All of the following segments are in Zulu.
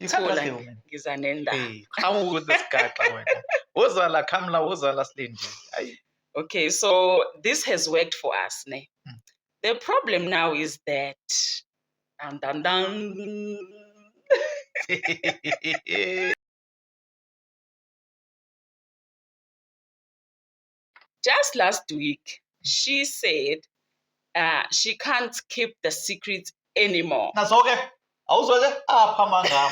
Ibola ngiza nendaba. Hey, qhamu ukuthi sigaxa wena. Woza la Khamla, woza la Silindi. Ayi. Okay, so this has worked for us, ne? Mm. The problem now is that dun dun dun. Just last week, she said uh, she can't keep the secret anymore. Nazoke, awuzweke apha amanga.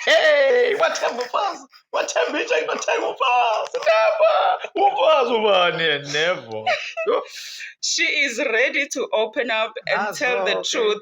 Hey, wathemba ufazi, wathemba intsha inothenga ufazi. Never, ufazi ubani never. she is ready to open up and Nazoke. tell the truth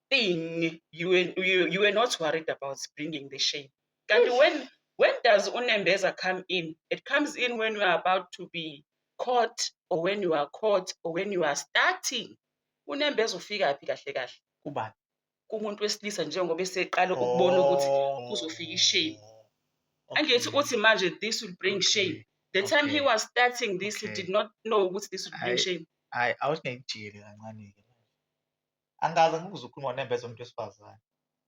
thing you were, you, you were not worried about bringing the shame kanti when when does unembeza come in it comes in when you are about to be caught or when you are caught or when you are starting unembeza ufika phi kahle kahle kubani kumuntu wesilisa njengoba eseqala ukubona ukuthi oh. kuzofika ishame angithi uthi manje this will bring shame the time he was starting this he did not know ukuthi this would bring shame hayi awuthi ngikujiyele kancane-ke angikaze ngikuze ukhuluma nembeza umuntu wesifazane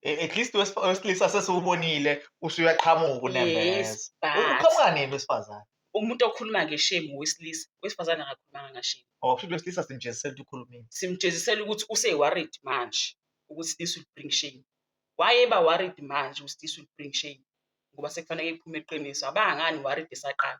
E- at least wes- wesilisa sesiwubonile usuyaqhamuka unembeza Yes, but- uqhamuka nini wesifazane umuntu okhuluma ngeshame owesilisa wesifazane akakhulumanga ngashame ngoba kusho ukuthi wesilisa simjezisela ukuthi ukhulumile simjezisela ukuthi use-worried manje ukuthi this will bring shame wayeba worried manje ukuthi this will bring shame ngoba sekufanele iphume iqiniso abangani worried esaqala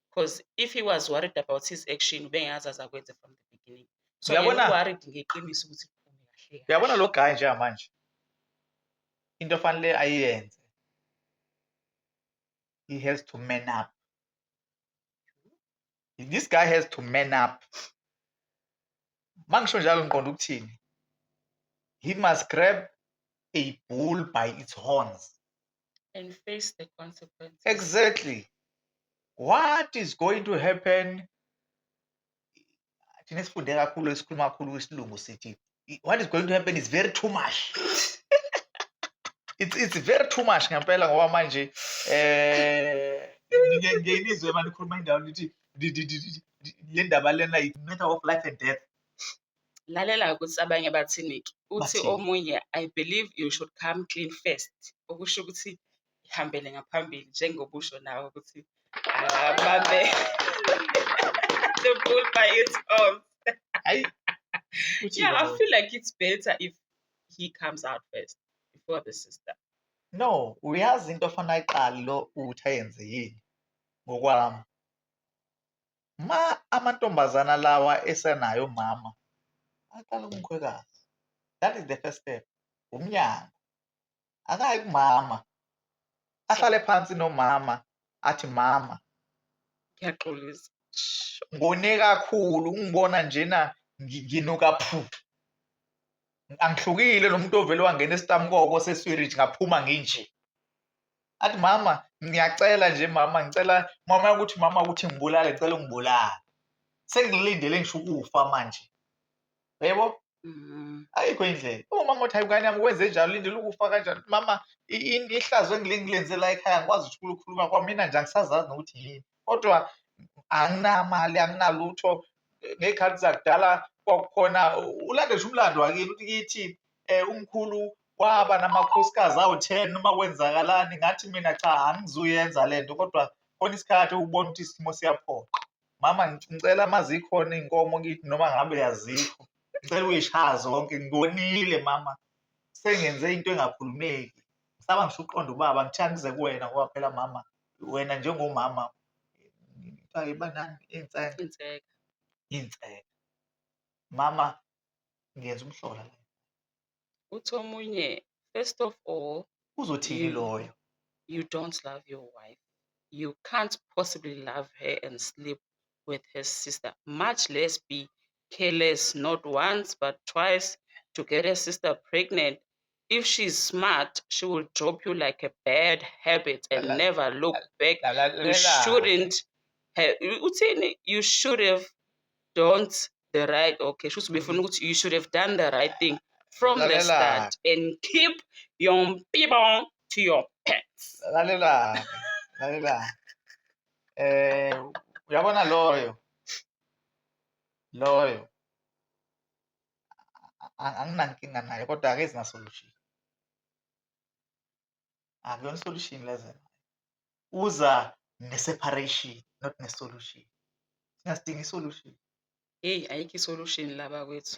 because if he was worried about his action ubengeke aze aze akwenze from the beginning so Uyabona? yena worried ngeqiniso ukuthi kuphume kahle kahle. uyabona lo guy njengamanje into fanele ayenze he has to man up this guy has to man up mangisho njalo ngiqonda ukuthini he must grab a bull by its horns and face the consequences. Exactly. What is going to happen? Thina sifunde kakhulu esikhuluma kakhulu kwisilungu sithi what is going to happen is very too much. it's, it's very too much ngempela ngoba manje eh ngenizwe manje khuluma indawo lithi le ndaba lena i matter of life and death lalela ukuthi abanye bathinike uthi Bathini? omunye i believe you should come clean first okusho ukuthi ihambele ngaphambili njengobusho nawe ukuthi abambe the bull by its own Hayi. Uthi yeah i yona. feel like it's better if he comes out first before the sister No, uyazi into ofana ayiqali lo uthi ayenze yini ngokwami. ma amantombazana lawa esenayo mama aqala kumkhwekazi that is the first step umnyango akayi kumama ahlale phansi nomama athi mama ngiyaxolisa ngone kakhulu ungibona njena nginuka phu angihlukile nomuntu ovele wangena esitamkoko seswirich ngaphuma nginje athi mama ngiyacela nje mama ngicela mama ukuthi mama ukuthi ngibulale ngicela ungibulale sengilindele ngisho ukufa manje yebo mm-hmm. ayikho indlela umama othi ayingane yami kwenze njalo lindele ukufa kanjani mama ihlazo engilenzela ekhaya ngikwazi ukuthi ukukhuluma kwamina nje angisazazi nokuthi yini kodwa anginamali anginalutho ngey'khathi zakudala kwakukhona ulande nje umlando wakini ukuthi kithi um umkhulu kwaba namakhosikazi awu-ten uma kwenzakalani ngathi mina cha angizuyenza le nto kodwa khona isikhathi ubona ukuthi isimo siyaphoqa mama ngicela uma zikhona iy'nkomo kithi noma ngabe yazikho ngicela uyishaya zonke ngibonile mama sengenze into engakhulumeki ngisaba ngisho uqonda ubaba ngithanda kuze kuwena ngoba phela mama wena njengomama kuthiwa ibanani inseka inseka inseka mama ngiyenza umhlola la uthi omunye first of all uzothini loyo you don't love your wife you can't possibly love her and sleep with her sister much less be careless not once but twice to get a sister pregnant if she's smart she will drop you like a bad habit and Lala- never look back you Lalalela. shouldn't have uthini you should have don't the right okay shuthi ubefuna ukuthi you should have done the right thing from the Lalela. start and keep your people to your pants lalela lalela eh uyabona loyo loyo anginankinga naye kodwa ake zingasolution akuyona isolution lezo uza ne-separation not ne-solution singasidinga isolution eyi ayikho isolution laba kwethu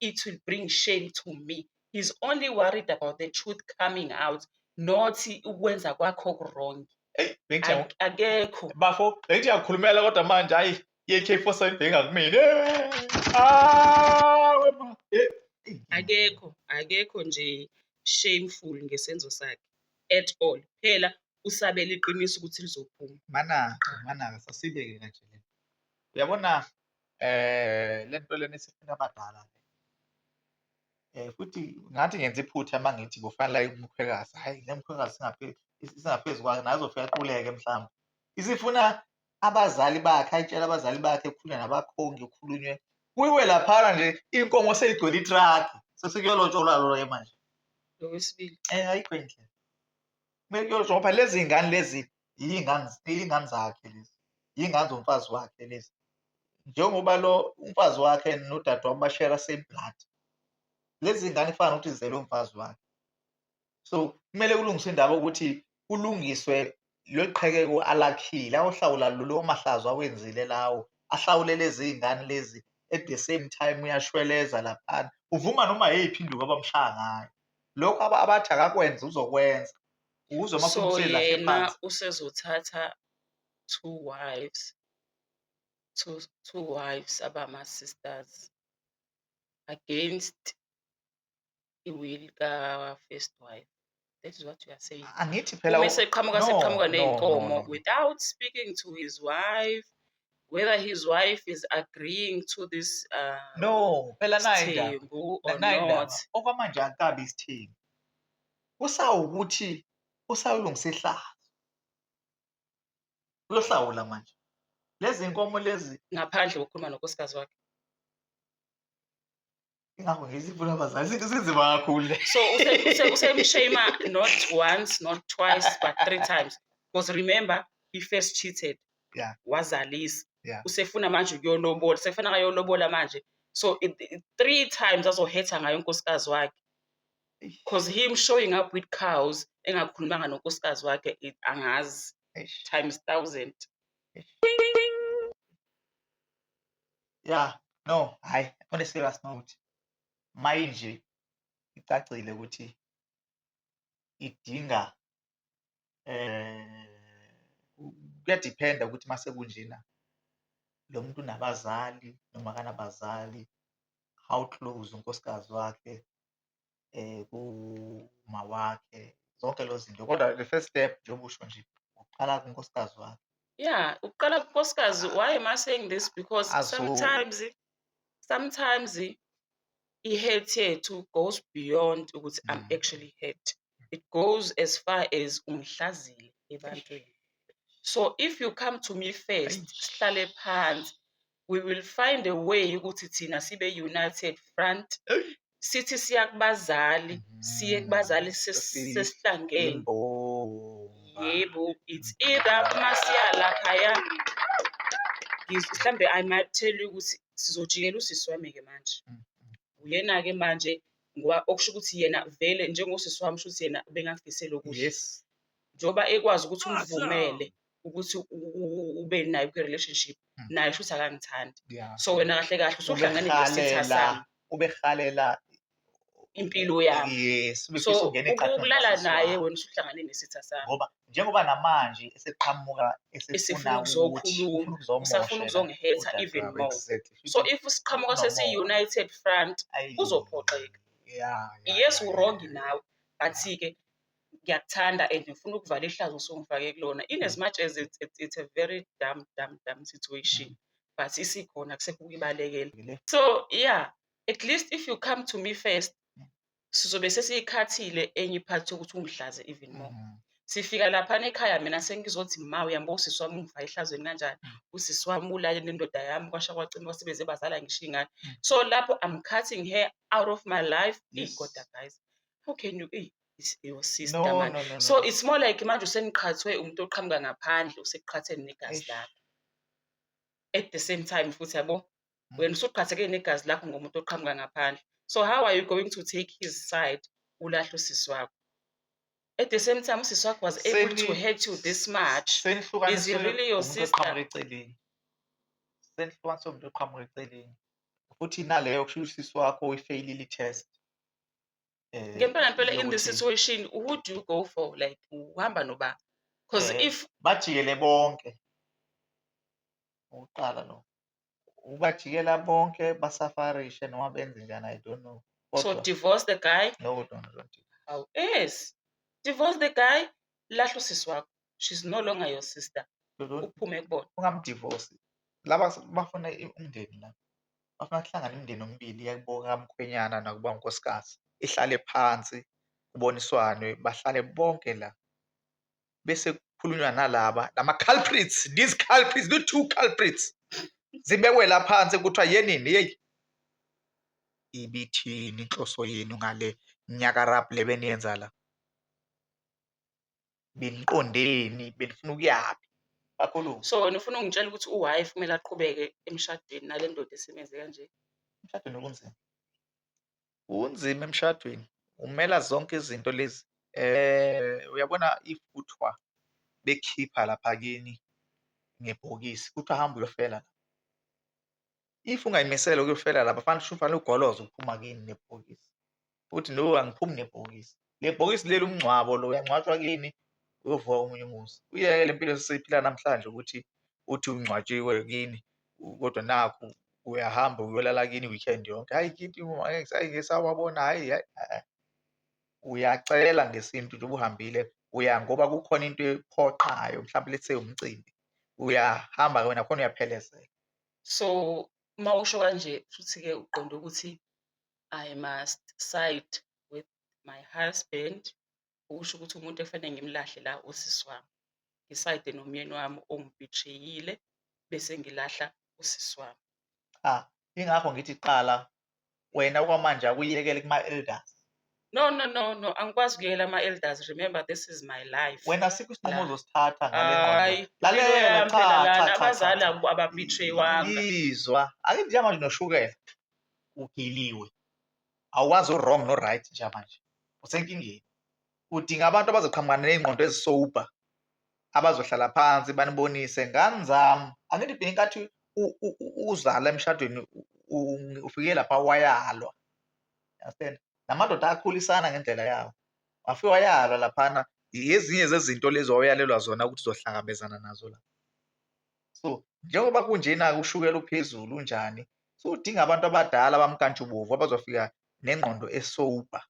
it will bring shame to me he's only worried about the truth coming out not ukwenza kwakho wrong akekho bafo bengithi yakhulumela kodwa manje hayi ye-k four seven bhenga kumina akekho akekho nje shameful ngesenzo sakhe at all phela usabela iqiniso ukuthi lizophuma manaka manaka sasibeke kanje le uyabona Eh lento lena isifuna abadala le. Eh futhi ngathi ngenza iphutha uma ngithi kufanele aye kumkhwekazi. Hhayi le mkhwekazi singaphezu singaphezu kwayo naye uzofika aquleke mhlawumbe. Isifuna abazali bakhe ayitshela abazali bakhe kukhulunywe nabakhongi kukhulunywe kuyiwe laphana nje inkomo seyigcwele itraki sesikuyolotsholwa lona-ke manje. Okwesibili. Eh ayikho indlela. Kumele kuyolotsholwa ngoba lezi ngane lezi iy'ngane iy'ngane zakhe lezi iy'ngane zomfazi wakhe lezi njengoba lo umfazi wakhe nodadewabo bashera same blood lezi ngane kufana nokuthi zizele umfazi wakhe so kumele kulungiswe indaba ukuthi kulungiswe lweqhekeko alakhile awohlawula lolo mahlazo awenzile lawo ahlawule lezi ngane lezi at the same time uyashweleza laphana uvuma noma yeyiphi induku abamshaya ngayo lokho abathi akakwenza uzokwenza Uwuzwa uma so usuthi lahle yena phansi. usezothatha two wives two, two wives abama-sisters against i-will ka-first wife that is what you are saying Angithi phela uma u- eseqhamuka no, seqhamuka no, no, ney'nkomo no, no. without speaking to his wife whether his wife is agreeing to this uh, No, phela nayi indaba. sithembu Na- or Nayi not indaba. Okwamanje akabi isithembu. usawukuthi usayolungisa ihlazo uyohlawula manje lezi nkomo lezi ngaphandle kokukhuluma nonkosikazi wakhe ingakho ngizivula abazali izinto zinzima kakhulu le so usemshama not once not twice but three times because remember he first cheated yeah. wazalisa yeah. usefuna manje ukuyolobola sekufana kayolobola manje so it, it, three times azohetha ngayo unkosikazi wakhe cause him showing up with cows engakhulumanga nonkosikazi wakhe it- angazi Eish. times thousand Yeah, no, hayi, on a serious note. Manje icacile ukuthi idinga eh kuyadiphenda ukuthi mase kunjena lo muntu unabazali noma kanabazali how close unkosikazi wakhe eh kuma wakhe zonke lezi zinto kodwa the first step njengoba usho nje uqala kunkosikazi wakhe yeah uqala kunkosikazi why am i saying this because sometimes sometimes i-hate yethu goes beyond ukuthi i'm mm. actually hate it goes as far as ungihlazile ebantwini so if you come to me first sihlale phansi we will find a way ukuthi thina sibe united front sithi siya kubazali siye mm. kubazali sesihlangene yebo it's either uma siya laphaya mhlawumbe i might tell you ukuthi sizojikela usisi wami-ke manje mm, mm. uyena-ke manje ngoba okusho ukuthi yena vele njengosisi wami shuthi yena bengakufisela okuhle yes njengoba ekwazi ukuthi umvumele ukuthi ube nayo kwi-relationship hmm. naye shuthi akangithandi so wena kahle kahle usuhlangane nesitha sami ubehalela impilo yami yes so ukulala naye wena usuhlangane nesitha sami ngoba njengoba namanje eseqhamuka esefuna ukuzokhuluma usafuna ukuzongihetha even more so if siqhamuka sesiyi-united front kuzophoxeka yes urongi nawe but-ke ngiyakuthanda and ngifuna ukuvala ihlazo osongifake kulona in as much as it's, it's, it's a very dam dam dam situation but isikhona kusekho ukuyibalekela so yeah at least if you come to me first sizobe sesiyikhathile enye iphathi yokuthi ungihlaze even more mm. sifika laphana ekhaya mina sengizothi ma uyambo usisi wami ungifa ehlazweni kanjani mm. usisi wami ulale nendoda yami kwasha kwacima kwasebenze bazala ngisho ingane mm. so lapho i'm cutting her out of my life yes. igoda guys how can you eyi your sister no, man no, no, no. so it's more like manje useniqhathwe umuntu oqhamuka ngaphandle useqhatheni negazi lakho at the same time futhi yabo wena usuqhatheke negazi lakho ngomuntu oqhamuka ngaphandle so how are you going to take his side ulahle usisi wakho at the same time usisi wakho was able to hurt you this much is he really your sister eceleni senihlukanise umuntu oqhamuka eceleni futhi naleyo kusho usisi wakho uyifeyilile i-test eh, ngempela mpela in this situation who do you go for like uhamba noba because eh, if bajikele bonke uqala lo ubajikela bonke basafarishe noma benze njani i don't know so divorce the guy no don't, don't. how is divorce the guy lahla usisi wakho she's no longer your sister uphume kubona ungamdivorce laba bafuna umndeni la bafuna kuhlangana imindeni omibili yakuboka mkhwenyana nakuba unkosikazi ihlale phansi kuboniswane bahlale bonke la bese kukhulunywa nalaba lama culprits these culprits the two culprits zibekwe la phansi kuthiwa yenini yeyi ibithini inhloso yenu ngale nyakarab le beniyenza la beniqondeni benifuna ukuyaphi kakhulu so wena ufuna ungitshela ukuthi uwhy kumele aqhubeke emshadweni nale ndoda esemenze kanje emshadweni okunzima Kunzima emshadweni, umela zonke izinto lezi. Uyabona if kuthiwa bekhipha lapha kini ngebhokisi, kuthiwa hamba uyofela la. If ungayimisele ukuyofela la, kufanele ufanele ugoloze ukuphuma kini nebhokisi, uthi no angiphumi nebhokisi. Lebhokisi leli umngcwabo lo uyangcwatshwa kini uyovuka omunye umuzi. Uyeke le mpilo esiphila namhlanje ukuthi uthi ungcwatshiwe kini kodwa nakhu uyahamba uyolala kini weekend yonke. Hayi kithi hayi ngisawabona hayi hayi. Uyacela ngesintu njengoba uhambile uya ngoba kukhona into ephoqayo mhlawumbe let's say umcimbi. Uyahamba wena khona uyaphelezela. So uma usho kanje futhi-ke uqonde ukuthi I must side with my husband okusho ukuthi umuntu ekufanele ngimlahle la usisi wami ngisayide nomyeni wami ongibetrayile bese ngilahla usisi wami cha ingakho ngithi qala wena okwamanje akuyekele kuma-elders no no no no angikwazi ukuyekela ama-elders remember this is my life wena sikho isinqumo ozosithatha ngale lalela cha cha cha abazali ababetraywanga izwa ake njengamanje noshukela ugiliwe awukwazi u-wrong no-right njengamanje usenkingeni udinga abantu abazoqhamuka ney'ngqondo ezisober abazohlala phansi banibonise ngani zami angithi bheke inkathi uzala emshadweni ufike lapha wayalwa understand namadoda akhulisana ngendlela yawo wafike wayalwa laphana yezinye zezinto lezi wawuyalelwa zona ukuthi uzohlangabezana nazo la so njengoba kunjena ushukela uphezulu unjani so udinga abantu abadala abamkantshubovu abazofika nengqondo esober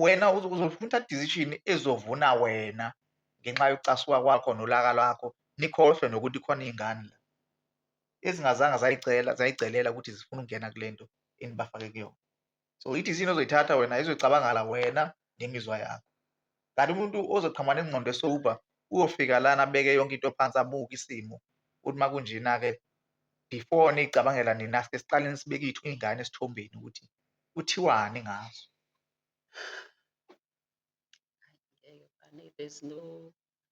wena uzofuna decision ezovuna wena ngenxa yokucasuka kwakho nolaka lwakho nikhohlwe nokuthi khona iy'ngane la ezingazange zayicela zayigcelela ukuthi zifuna ukungena kule nto enibafake kuyona so ithi izinto ozoyithatha wena izoyicabangala wena nemizwa yakho kanti umuntu ozoqhamuka nengqondo esober uyofika lana abeke yonke into phansi abuke isimo ukuthi uma kunjena-ke before niyicabangela nina sike siqale nisibeke ithu iy'ngane esithombeni ukuthi kuthiwani ngazo there's no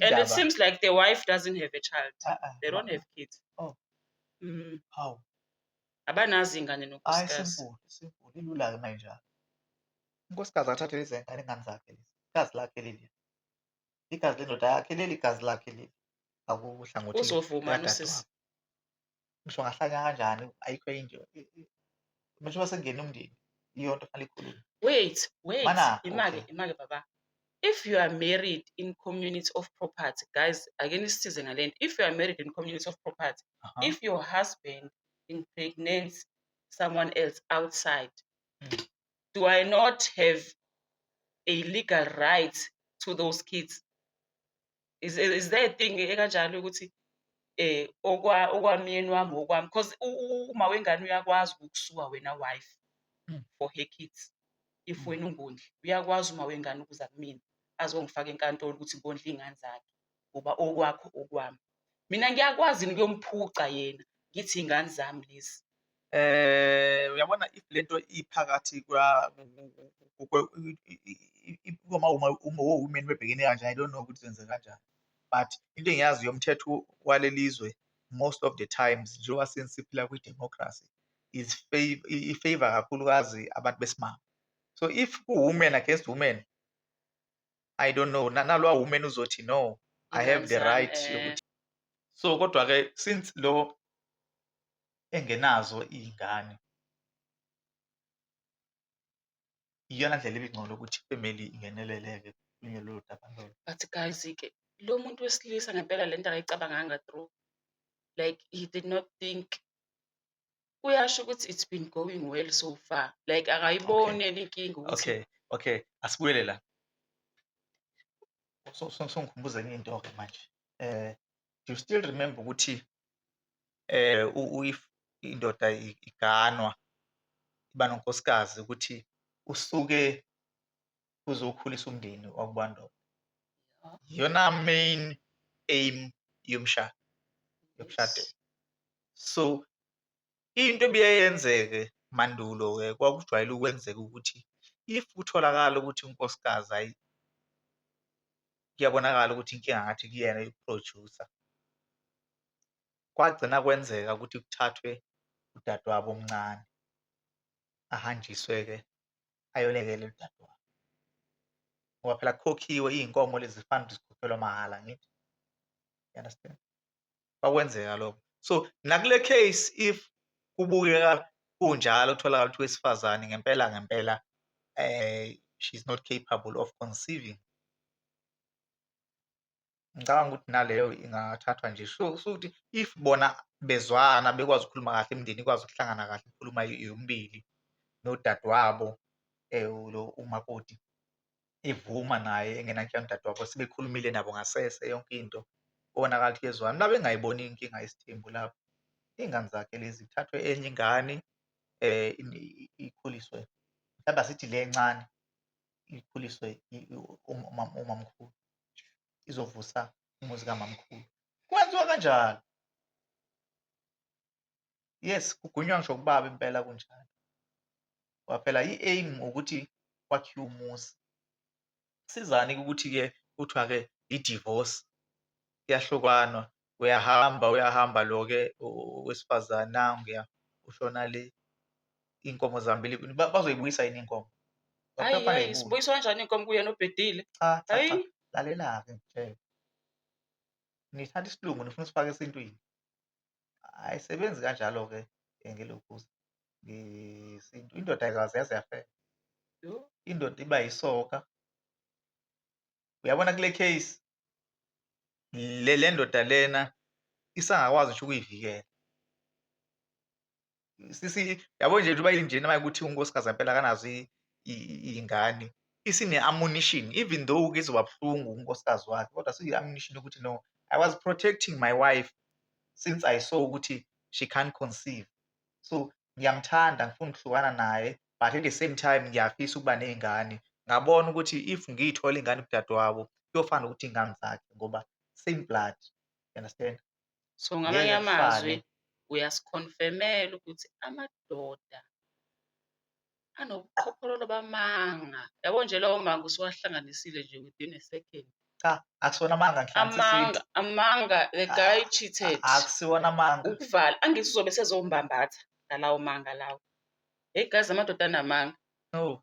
and it seems like the wife doesn't have a child uh -uh. they don't have kids oh. mm. how abanazi ingane nonkosikazi ilula-ke uma injalo unkosikazi akathathe lezi ngane ingane zakhe lezi igazi lakhe leli igazi lendoda yakhe leli igazi lakhe leli akuhlangothi uzovuma usisi ngisho ngahlanya kanjani ayikho into manje uma sengena umndeni iyo nto fanele ikhulume wait wait Mana, imake okay. imake baba if you are married in community of property guys ake nisisize ngale nto if you are married in community of property Aha. if your husband impregnates someone else outside Mm. do i not have a legal right to those kids is, is there a thing ekanjalo ukuthi eh okwa okwamyeni wami okwami because uma wengane uyakwazi ukusuka wena wife hmm. for her kids if hmm. wena ungondli uyakwazi uma wengane ukuza kumina azongifaka enkantolo ukuthi ngondla iy'ngane zakhe ngoba okwakho okwami mina ngiyakwazi yini kuyomuphuca yena ngithi iy'ngane zami lezi Eh uyabona if lento iphakathi kwa uma uma uma women bebhekene kanjani i don't know ukuthi kwenze kanjani but into engiyazi yomthetho walelizwe most of the times njengoba seniphila kwi democracy is favor i favor kakhulukazi abantu besimame so if ku women against women i don't know nalwa women uzothi no i have the right yokuthi so kodwa ke since lo engenazo iy'ngane iyona ndlela ebingcono ukuthi ifemeli ingeneleleke kukhulunywe lolu daba lolo But guys, ke lo muntu wesilisa ngempela lento akayicabanganga through. Like he did not think. Kuyasho ukuthi it's been going well so far. Like akayiboni enye inkinga ukuthi okay okay asibuyele la So- so- songikhumbuza enye into-ke manje um do you still remember ukuthi if indoda iganwa iba nonkosikazi ukuthi usuke uzokhulisa umndeni wakubo ndoda. Iyona main aim yomshado yokushadela. So Into ebiye yenzeke mandulo-ke kwakujwayele ukwenzeka ukuthi if kutholakala ukuthi unkosikazi ayi kuyabonakala ukuthi inkinga ngathi kuyena uyiphrojusa, kwagcina kwenzeka ukuthi kuthathwe udadewabo omncane ahanjiswe-ke ayolekela udadewabo ngoba phela kukhokhiwe iy'nkomo lezi fana zikhokhelwa mahhala angithi? You understand? bakwenzeka lokho so nakule case if kubukeka kunjalo kutholakala ukuthi wesifazane ngempela ngempela eh she's not capable of conceiving ngicabanga ukuthi naleyo ingathathwa nje so ukuthi if bona bezwana bekwazi ukukhuluma kahle imindeni ikwazi ukuhlangana kahle ikhuluma yombili nodadewabo um lo umakoti evuma naye engenankinga udadewabo sebekhulumile nabo ngasese yonke into kubonakala ukuthi kuyezwana la bengayiboni inkinga isithembu lapho iy'ngane zakhe lezi kuthathwe enye ingane um ikhuliswe mhlawumbe asithi le encane ikhuliswe umamkhulu izovusa umuzi kamamkhulu kwenziwa kanjalo yes kugwinywa ngisho kubaba impela kunjalo ngoba phela i-aim ukuthi kwakhiwe umuzi sizani ukuthi-ke kuthiwa-ke i-divorce kuyahlukanwa uyahamba uyahamba lo-ke wesifazane nanguya ushona le iy'nkomo zihambile kuni bazoyibuyisa yini iy'nkomo Ayi, sibuyiswa kanjani iy'nkomo kuyena obhedile cha cha cha lalela-ke ngitshele nithatha isilungu nifuna usifake esintwini ayisebenzi kanjalo-ke ngelokhuza ngesintu indoda ayikaze yaze yafela indoda iba yisoka uyabona kule case le le ndoda lena isangakwazi ngisho ukuyivikela sisi yabo nje uba ilinjena manje ukuthi unkosikazi impela kanazo iy'ngane isine-ammunition even though ke izoba buhlungu unkosikazi wakhe kodwa siyi-ammunition ukuthi no i was protecting my wife since i saw ukuthi she can't conceive so ngiyamthanda ngifuna ukuhlukana naye but at the same time ngiyafisa ukuba ney'ngane ngabona ukuthi if ngiyithola ingane kudadewabo kuyofana ukuthi iy'ngane zakhe ngoba same blood you understand So ngamanye amazwi uyasikhonfemela ukuthi amadoda anobuqhophololo bamanga. Yabo nje lawo manga usuwahlanganisile nje within a second. Cha, akusiwona amanga Amanga, amanga the ah, guy cheated. Akusiwona amanga. Ukuvala angithi uzobe sezombambatha ngalawo manga lawo. Hey guys amadoda anamanga. No.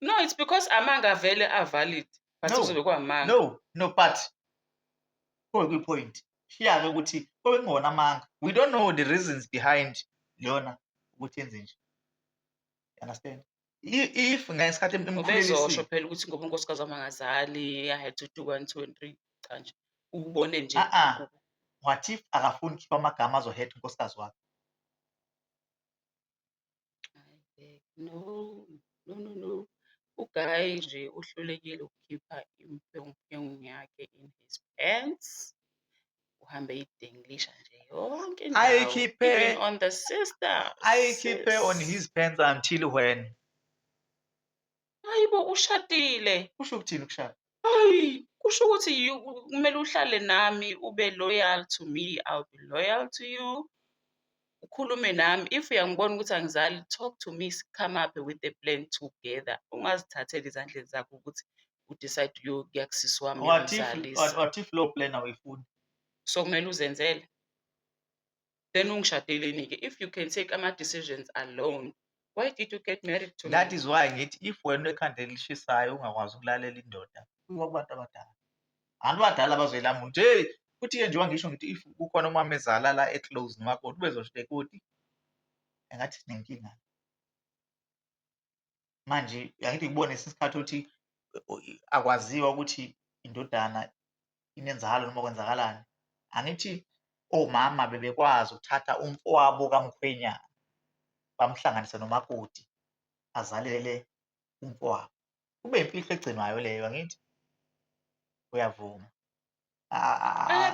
no it's because amanga avele avalid but No. kuzobe kwamanga no no but kobe kwipoint shiya-ke ukuthi kobe kungona amanga we don't know the reasons behind leyona ukuthi yenze nje You understand I- if ngesikhathi im- imkhulelisiwe- ubezosho phela ukuthi ngoba unkosikazi wami angazali i had to do one two and three cha nje ubone nje Ah, ah. ku- what if akafuni ukukhipha amagama azohetha unkosikazi wakhe No, no, no, no. Ugayi nje uhlulekile ukukhipha imphenguphengu yakhe in his pants. Uhambe idenglisha nje yonke indawo. Ayikhiphe. Even on the sister. Ayikhiphe on his pants until when? Hayi bo ushadile. Kusho ukuthini ukushada? Hayi kusho ukuthi you- kumele uhlale nami ube loyal to me, I'll be loyal to you. Ukhulume nami if uyangibona ukuthi angizali talk to me come up with a plan together. Ungazithatheli ezandleni zakho ukuthi u decide uyokuya kusisi wami What if uyomzalisa. what, what if low plan awuyifuni? So kumele uzenzele. then ungishadeleni-ke if you can take ama-decisions alone why did you get married to that me? is why ngithi if wena ekhanda elishisayo ungakwazi ukulalela indoda kuba kubantu abadala anti badala bazoyilamula ukuthi heyi futhi-ke njengoba ngisho ngithi if kukhona umama ezala la eclose ngakho ubezosho ukuthi engathi sinenkinga manje angithi kubona isikhathi othi akwaziwa ukuthi indodana inenzalo noma kwenzakalani angithi omama bebekwazi ukuthatha umfowabo kamkhwenyana bamhlanganise nomakoti azalele umfowabo kube imfihlo egcinwayo leyo angithi uyavuma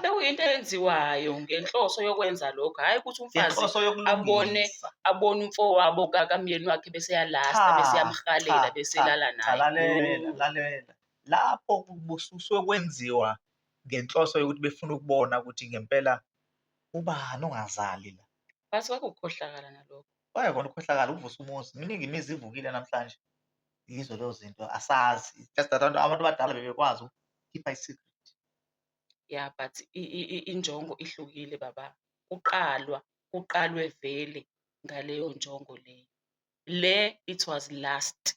Bekuyinto eyenziwayo ngenhloso yokwenza lokho, hhayi ukuthi umfazi Ngenhloso abone yokulungisa. abone umfowabo ka- kamyeni wakhe bese yalasta Cha, bese yamhalela cha, bese cha, elala cha, naye. lalela lalela lapho kusuke kwenziwa ngenhloso yokuthi befuna ukubona ukuthi ngempela ubani ongazali la Basuke kuwukukhohlakala nalokho. Kwaye kona ukhohlakala ukuvusa umuzi. Miningi imizi ivukile namhlanje. Yizo lezo zinto asazi. Just that abantu abantu abadala bebekwazi ukukhipha i-secret. Yeah, but i- i- i- injongo ihlukile baba. Kuqalwa, kuqalwe vele ngaleyo njongo leyo. Le it was last.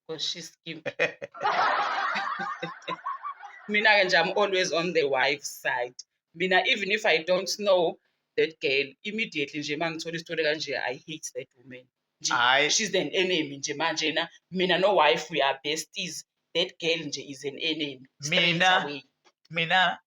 because she skip mina ke nje i'm always on the wife side mina even if i don't know that girl immediately nje uma ngithola isitori kanje i hate that woman nje Hhayi. she's an enemy nje manje na mina no wife we are besties that girl nje is an enemy Straight Mina? away. mina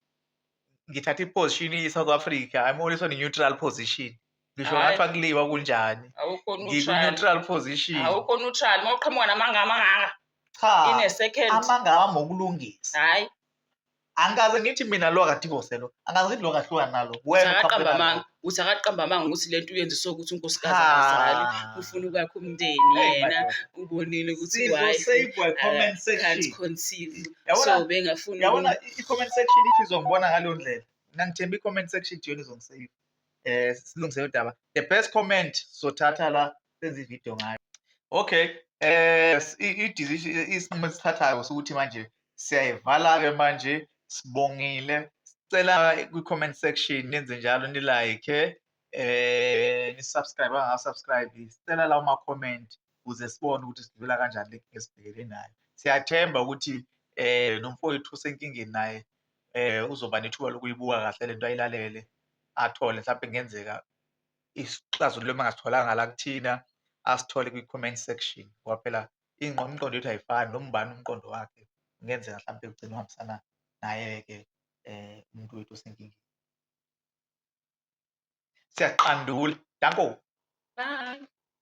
ngithatha iposition i-south africa i'm always on a neutral position ngisho Hhayi. ngathiwa kuliwa kunjani awukho neutral ngiku-neutral position awukho neutral uma uqhamuka namanga amangaka cha in a second amanga awami okulungisa hayi angikaze ngithi mina lo akadivoselwa angikaze ngithi lo kahlukani nalo wena uqhamuke akaqamba nalo. amanga uthi akaqamba amanga ukuthi lento uyenziswa ukuthi unkosikazi akazali ufuna ukwakha umndeni yena ubonile ukuthi can't conceive so bengafuni yabona i-comment section ithi izongibona ngaleyo ndlela nangithemba i-comment section ithi yona izongisave um eh, silungise udaba the best comment sothatha la senze ividiyo ngayo okay eh i-decision isinqumo esithathayo ukuthi manje siyayivala-ke manje sibongile sicela kwi-comment section nenze njalo nilike eh nisubscribe angasubscribe sicela lawo ma-comment ukuze sibone ukuthi sidlula kanjani le nkinga esibhekele nayo siyathemba ukuthi eh nomfowethu usenkingeni naye eh uzoba nethuba lokuyibuka kahle lento ayilalele athole mhlawumbe kungenzeka isixazululo engasitholanga la kuthina asithole kwi-comment section ngoba phela ingqondo umqondo yethu ayifani noma ubani umqondo wakhe kungenzeka mhlawumbe ugcina uhambisana naye-ke um umuntu wethu osenkingeni siyaqandula danko Bye.